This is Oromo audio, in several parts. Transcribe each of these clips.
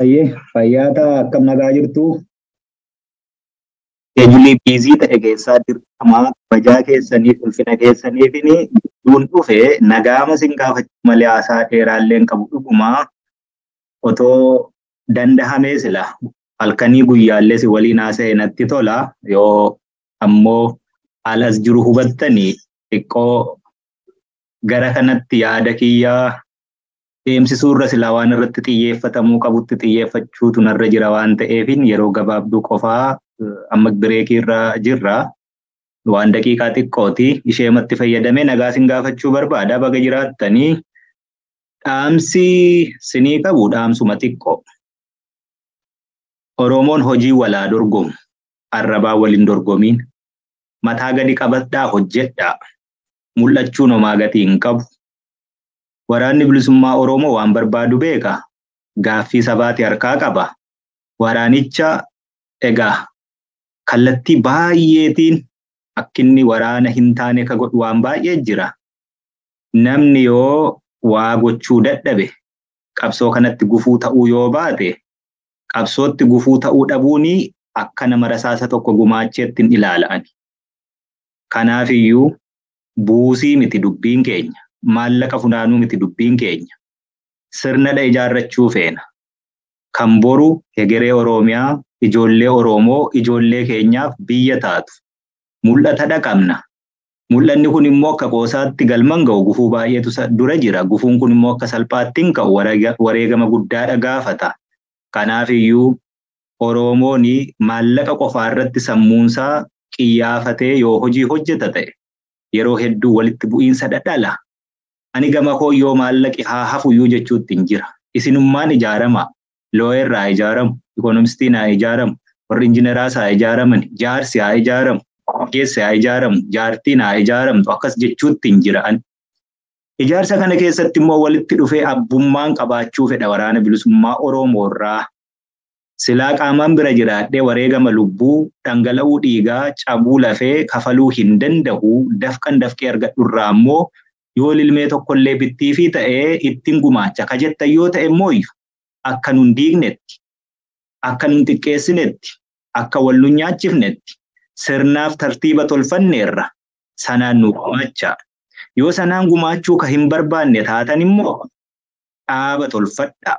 Hayyee fayyaa ta'a akkam nagaa jirtu. Eejilee biizii ta'e keessaa dirqama kabajaa keessaniif ulfina keessaniif gidduun dhufe nagaama sin gaafachuu malee haasaa dheeraallee hin qabu dhuguma otoo dandahamee sila halkanii guyyaallee si waliin haasa'e natti tola yoo ammoo haala as jiru hubattanii xiqqoo gara kanatti yaada kiyyaa deemsisuu irra silaa waan irratti xiyyeeffatamuu qabutti xiyyeeffachuutu narra jira waan ta'eefin yeroo gabaabduu qofaa amma bireekii irra jirra. Waan daqiiqaa xiqqooti isheematti fayyadamee nagaa sin gaafachuu barbaada baga jiraattanii dhaamsi sinii qabu dhaamsuma xiqqoo. Oromoon hojii walaa dorgomu arrabaa waliin dorgomiin mataa gadi qabadhaa hojjedhaa mul'achuun homaa gatii hin qabu. Waraanni Bilisummaa Oromoo waan barbaadu beeka, gaaffii sabaati harkaa qaba. Waraanicha egaa kallattii baay'eetiin akkinni waraana hintaane ka godhu waan baay'ee jira. Namni yoo waa gochuu dadhabe, qabsoo kanatti gufuu ta'uu yoo baate, qabsootti gufuu ta'uu dhabuun akka nama rasaasa tokko gumaacheetti hin ilaala ani. Kanaafiyyuu buusii miti dubbiin keenya, maallaqa funaanuu miti dubbiin keenya. Sirnadha ijaarrachuu feena. Kan boru hegeree Oroomiyaa, ijoollee Oroomoo, ijoollee keenyaaf biyya taatu. Mul'atadha qabna. Mul'anni kun immoo akka qoosaatti galman ga'u gufuu baay'eetu isa dura jira. Gufuun kun immoo akka salphaatti hin ka'u. Wareegama guddaadha gaafata. Kanaafiyyuu Oroomoon maallaqa qofaa irratti sammuun isaa qiyyaafatee yoo hojii hojjeta ta'e yeroo hedduu walitti bu'iinsa dhadhala. Ani gama koo yoo maallaqi haa hafuyyuu jechuuttin jira. Isinummaan ijaaramaa. Looyer haa ijaaramu, ikonomistiin haa ijaaramu, warri injineraas haa ijaaramani, jaarsi haa ijaaramu, ogeessi haa ijaaramu, jaartiin haa ijaaramtu akkas jechuuttin jira ani. Ijaarsa kana keessatti immoo walitti dhufee abbummaan qabaachuu fedha Waraana Bilisummaa Oroomoo irraa. Silaa qaamaan bira jiraadhee wareegama lubbuu, dhangala'uu dhiigaa, cabuu lafee kafaluu hin danda'u, dafqan dafqee argadhu irraa ammoo yoo lilmee tokkollee bittiifii ta'e ittin gumaacha ka jettan yoo ta'e immooyyu akka nun diignetti, akka nun xiqqeessinetti, akka wal nun nyaachifnetti sirnaaf tartiiba tolfanneerra, sanaan nuu gumaachaa. Yoo sanaan gumaachuu ka hin barbaanne taatan immoo dhaaba tolfadhaa.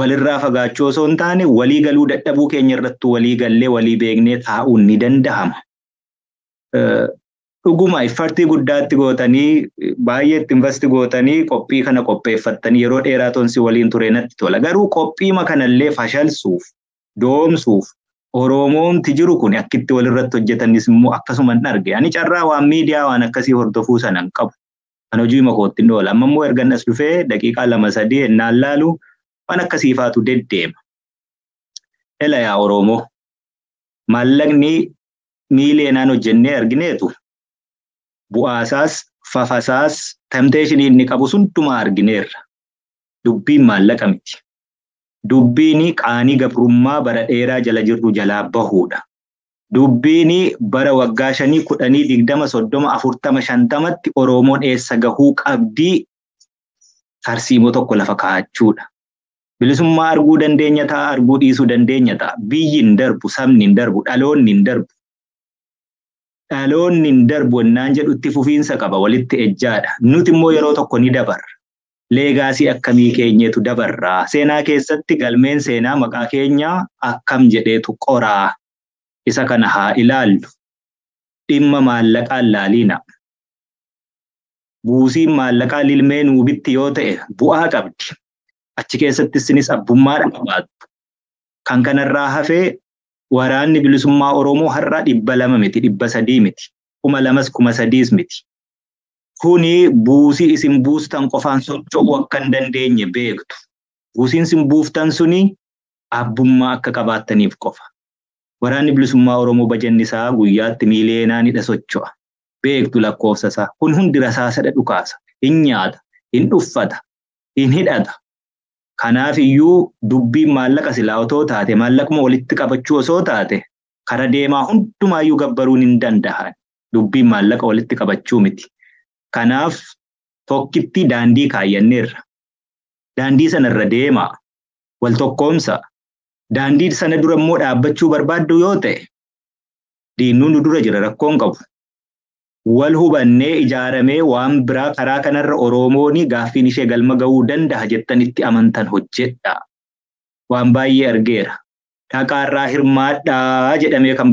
walirraa fagaachuu osoo hin taane walii galuu dadhabuu keenya irrattu walii gallee walii beeknee taa'uun ni danda'ama. Dhuguma iffartii guddaatti gootanii baay'ee itti invasti gootanii qophii kana qopheeffattanii yeroo dheeraa tonsi waliin ture natti tola. Garuu qophiima kanallee fashalsuuf, doomsuuf Oromoomti jiru kun akkitti walirratti hojjetanis immoo akkasuma hin arge. Ani carraa waan miidiyaa waan akkasii hordofuu sana hin qabu. An hojiima kootti hin oola. Amma immoo ergan as dhufee daqiiqaa lama sadii ennaan laalu waan akkasii faatu deddeema. Ela yaa Oromoo maallaqni miiliyeenaan hojjennee argineetu bu'aasaas fafasaas temteeshinii inni qabu hundumaa argineerra. Dubbiin maallaqa miti. Dubbiin qaanii gabrummaa bara dheeraa jala jirru jalaa bahuudha. Dubbiini bara waggaa shanii kudhanii digdama soddoma afurtama shantamatti Oroomoon eessa gahuu qabdii tarsiimoo tokko lafa kaachuudha. Bilisummaa arguu dandeenya ta'a arguu dhiisuu dandeenya ta'a. Biyyi hin darbu, sabni hin darbu, dhaloonni hin darbu. Dhaloonni hin darbu ennaan jedhu itti fufiinsa qaba walitti ejjaadha. Nuti immoo yeroo tokko ni dabarra. leegaasii akkamii keenyeetu dabarra? Seenaa keessatti galmeen seenaa maqaa keenya akkam jedheetu qora? Isa kana haa ilaallu. Dhimma maallaqaa hin laaliina. Buusiin maallaqaa lilmee nuu bitti yoo ta'e bu'aa qabdi. Achi keessatti isinis abbummaa qabaattu. Kan kanarraa hafe waraanni bilisummaa Oromoo har'a dhibba lama miti, dhibba sadii miti, kuma lamas kuma sadiis miti. kuni buusii isin buustan qofaan socho'uu akka hin dandeenye beektu. Buusiin isin buuftan suni abbummaa akka qabaattaniif qofa. Waraanni Bilisummaa Oromoo bajanni isaa guyyaatti miiliyeenaanidha socho'a. Beektu lakkoofsa isaa. Kun hundi rasaasadha dhukaasa. Hin nyaata, hin dhuffata, hin hidhata. Kanaaf iyyuu dubbiin maallaqa silaa otoo taate maallaquma walitti qabachuu osoo taate kara deemaa hundumaayyuu gabbaruun hin danda'an. Dubbiin maallaqa walitti qabachuu miti. Kanaaf tokkitti daandii kaayyanneerra. Daandii sana irra deemaa, wal tokkoomsaa. Daandii sana dura immoo dhaabbachuu barbaaddu yoo ta'e diinnuu nu dura jira rakkoon qabu. Wal hubannee ijaaramee waan biraa karaa kanarra Oromoon gaaffiin ishee galma ga'uu danda'a jettan itti amantan hojjedhaa. Waan baay'ee argeera. dhaqaa irraa hirmaadhaa jedhamee kan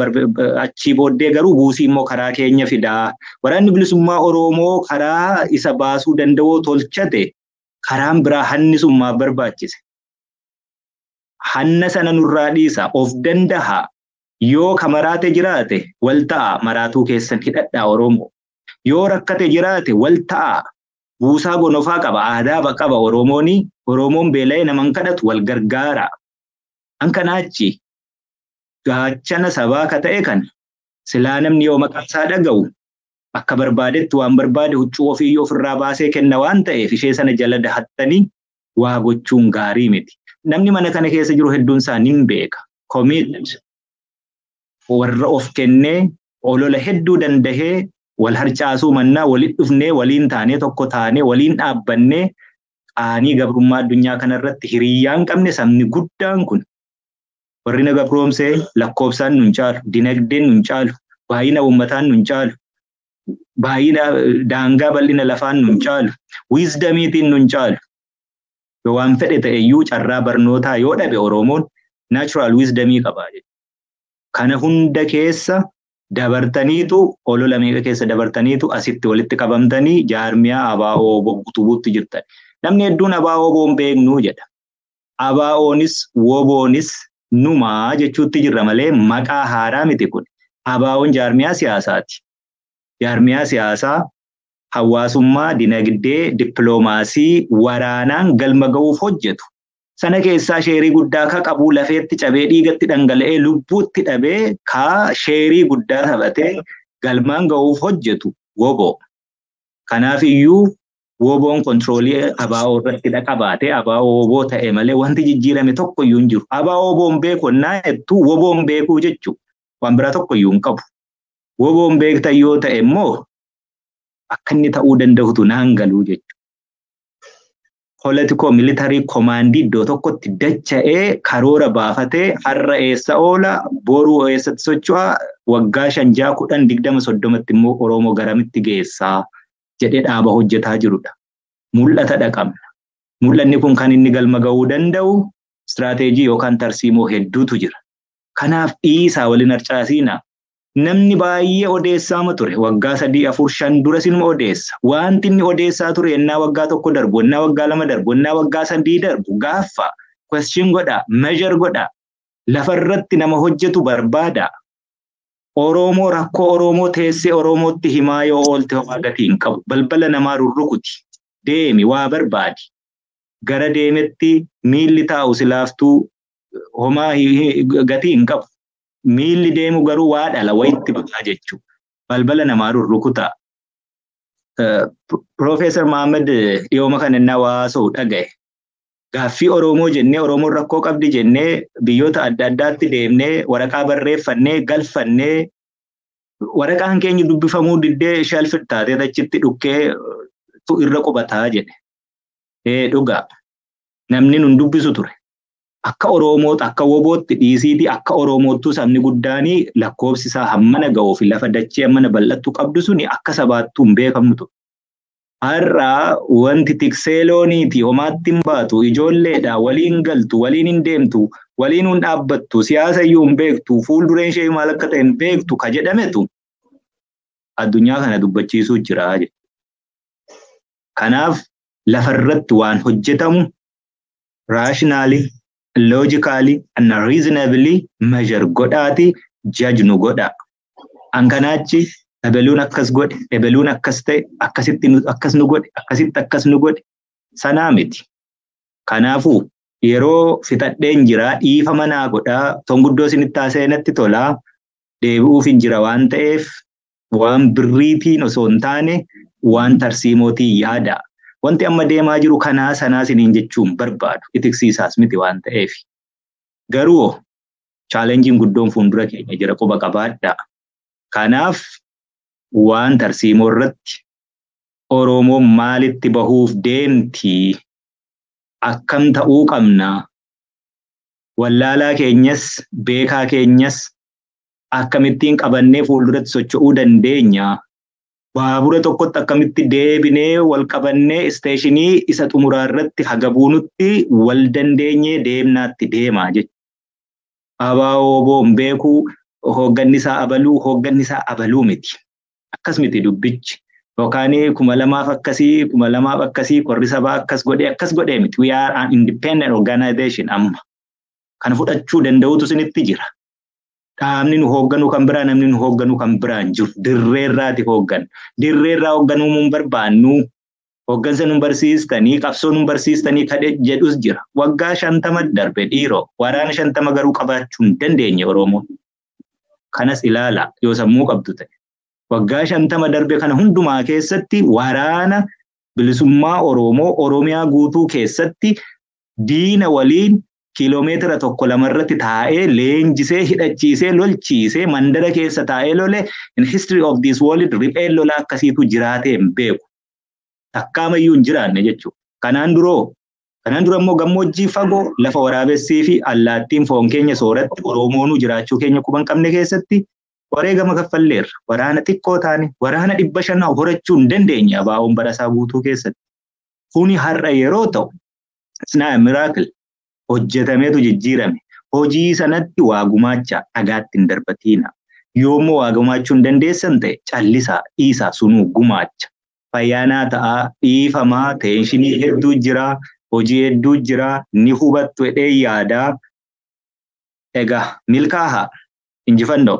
achii booddee garuu buusii immoo karaa keenya fidaa. Waraanni bilisummaa Oromoo karaa isa baasuu danda'oo tolchate karaan biraa hanni sun maaf barbaachise. Hanna sana nurraa dhiisa of danda'a yoo ka maraate jiraate wal ta'a maraatuu keessan hidhadhaa Oromoo. Yoo rakkate jiraate wal ta'a buusaa gonofaa qaba aadaa qaba Oromoon Oromoon beela'ee naman kadhatu wal gargaara. An kanaa achi gaachana sabaa ka ta'e kana silaa namni yoo maqaa isaa dhaga'u akka barbaadetti waan barbaade huccuu ofii ofirraa baasee kenna waan ta'eef ishee sana jala dahattanii waa gochuun gaarii miti. Namni mana kana keessa jiru hedduun isaa nin beeka. Commit warra of kennee olola hedduu dandahee wal harcaasuu mannaa walitti dhufnee waliin taanee tokko taanee waliin dhaabbannee qaanii gabrummaa addunyaa kanarratti hiriyyaa hin qabne sabni guddaan kun warri na gabroomsee lakkoofsaan nun caalu, dinagdeen nun caalu, baay'ina uummataan nun caalu, baay'ina daangaa bal'ina lafaan nun caalu, wiizdamiitiin nun caalu. Yoo waan fedhe ta'e iyyuu carraa barnootaa yoo dhabe Oromoon naachuraal wiizdamii qaba. Kana hunda keessa Dabartaniitu olola meeqa keessa dabartaniitu asitti walitti qabamtanii jaarmiyaa ABO-wbo utubuutti jirtan. Namni hedduun ABO-wbo hin beeknu jedha. ABOnis WBOnis numa jechuutti jirra malee maqaa haaraa miti kun. ABOn jaarmiyaa siyaasaati. Jaarmiyaa siyaasaa hawaasummaa, dinagdee, dippiloomaasii, waraanaan galma ga'uuf hojjetu. sana keessaa sheerii guddaa ka qabuu lafeetti cabee dhiigatti dhangala'ee lubbuutti dhabee ka sheerii guddaa taphatee galmaan ga'uuf hojjetu woboo. Kanaaf iyyuu woboon kontiroolii abaa'oo irratti dhaqabaate abaa'oo woboo ta'e malee wanti jijjiirame tokko iyyuu hin jiru. Abaa'oo woboon beeku ennaa jettu woboon beekuu jechuun waan biraa tokko iyyuu hin qabu. Woboon beektan yoo ta'e immoo akka inni ta'uu danda'utu naan galuu jechuudha. politikoo militarii komaandii iddoo tokkotti dacha'ee karoora baafatee har'a eessa oola boruu eessatti socho'a waggaa shan ja'a kudhan digdama soddomatti immoo Oromoo garamitti geessaa jedhee dhaaba hojjetaa jirudha. Mul'ata dhaqabna. Mul'anni kun kan inni galma ga'uu danda'u istiraateejii yookaan tarsiimoo hedduutu jira. Kanaaf dhiisaa waliin harcaasiina. Namni baay'ee odeessaama ture. Waggaa sadii, afur, shan dura sinuma odeessa. Wanti inni odeessaa ture ennaa waggaa tokko darbu, ennaa waggaa lama darbu, ennaa waggaa sadii darbu gaaffa, question godha, measure godha. Lafarratti nama hojjetu barbaada. Oromoo rakkoo Oromoo teessee Oromootti himaa yoo oolte homaa gatii hin qabu. Balbala namaa rurrukuti. Deemi waa barbaadi. Gara deemetti miilli taa'u silaaftuu homaa gatii hin qabu. Miilli deemu garuu waa dhala wayitti bahaa jechuudha. Balbala namaa rurrukutaa. Piroofeesar Mahammad dhiyooma kana innaa waa haasa'u dhaga'e. Gaaffii Oromoo jennee Oromoon rakkoo qabdi jennee biyyoota adda addaatti deemnee waraqaa barreeffannee galfannee waraqaan keenya dubbifamuu diddee shalfir taatee achitti dhukkee tu irra qubataa jedhe. Ee dhugaa namni nun dubbisu ture. Akka Oroomoot akka wobootti dhiisiitii akka Oromoottuu sabni guddaanii lakkoobsi isaa hammana ga'uu fi lafa dachee hammana bal'attu qabdu suni akka sabaattuu hin beekamnu ture. Har'a wanti tiksee looniitii homaatti hin baatu, ijoolleedha, waliin hin galtu, waliin hin deemtu, waliinuu hin dhaabbattu, siyaasa iyyuu hin beektu, fuuldureen ishee maal akka ta'e hin beektu ka jedhametu addunyaa kana dubbachiisuu jira jechuudha. Kanaaf lafarratti waan hojjetamu rationally logically and reasonably measure godhaati judge nu godha an kanaachi ebeluun akkas godhe ebeluun akkas ta'e akkasitti nu- akkas nu godhe akkasitti akkas nu godhe sanaa miti kanaafuu yeroo fixadheen jira dhiifama naa godhaa ton guddoo isinitti haasa'e natti tolaa deebi'uuf hin jira waan ta'eef Waan birriitiin osoo hin taane waan tarsiimootiin yaadaa. Wanti amma deemaa jiru kanaa sanaa siniin jechuun barbaadu. Itiksiisaas miti waan ta'eef. Garuu chaalenjiin guddoon fuuldura keenya jira quba qabaadhaa. Kanaaf waan tarsiimoo irratti Oromoon maalitti bahuuf deemti? Akkam ta'uu qabna? Wallaalaa keenyas beekaa keenyas akkamittiin qabannee fuulduratti socho'uu dandeenya? Baabura tokkotti akkamitti deebinee wal qabannee isteeshinii isa xumuraa irratti haga buunutti wal dandeenyee deemnaatti deema jechuudha. Abaa'oo boon beekuu hoogganni isaa abaluu hoogganni isaa abaluu miti. Akkas miti dubbichi. Yookaan kuma lamaaf akkasii kuma lamaaf akkasii korri sabaa akkas godhee akkas godhee miti. We are an independent organization amma. Kana fudhachuu danda'utu isinitti jira. Qaamni nu hoogganu kan biraa namni nu hoogganu kan biraa hin jiru. Dirreerraati hoogganna. Dirreerraa hoogganuu hin barbaannu. Hooggansa nu barsiistanii qabsoo nu barsiistanii kadhe jedhus jira. Waggaa shantama darbe dhiiroo waraana shantama garuu qabaachuu hin dandeenye Oromoon. Kanas ilaala yoo sammuu qabdu ta'e. Waggaa shantama darbe kana hundumaa keessatti waraana bilisummaa Oromoo Oromiyaa guutuu keessatti diina waliin kiiloomeetira tokko lama irratti taa'ee leenjisee hidhachiisee lolchiisee mandara keessa taa'ee lole in history of this world ripheen lolaa akkasiitu jiraatee hin beeku. Takkaamayyuu hin jiraanne jechuudha. Kanaan duroo Kanaan dura immoo gammoojjii fagoo lafa waraabessii fi allaattiin foon keenya sooratti Oromoonuu jiraachuu keenya quban qabne keessatti wareegama kaffalleerra. Waraana xiqqoo taane waraana dhibba shan horachuu hin dandeenye abaa'oon barasaa guutuu keessatti. Kuni har'a yeroo ta'u It's not a miracle. Hojjetameetu jijjiirame. Hojii sanatti waa gumaacha dhagaatti hin darbatiina. Yoommoo waa gumaachuu hin dandeessan ta'e callisaa dhiisaa sunuu gumaacha. Fayyaanaa ta'aa dhiifamaa teenshinii hedduu jira hojii hedduu jira ni hubattu jedhee yaadaa. Egaa milkaahaa injifannoo.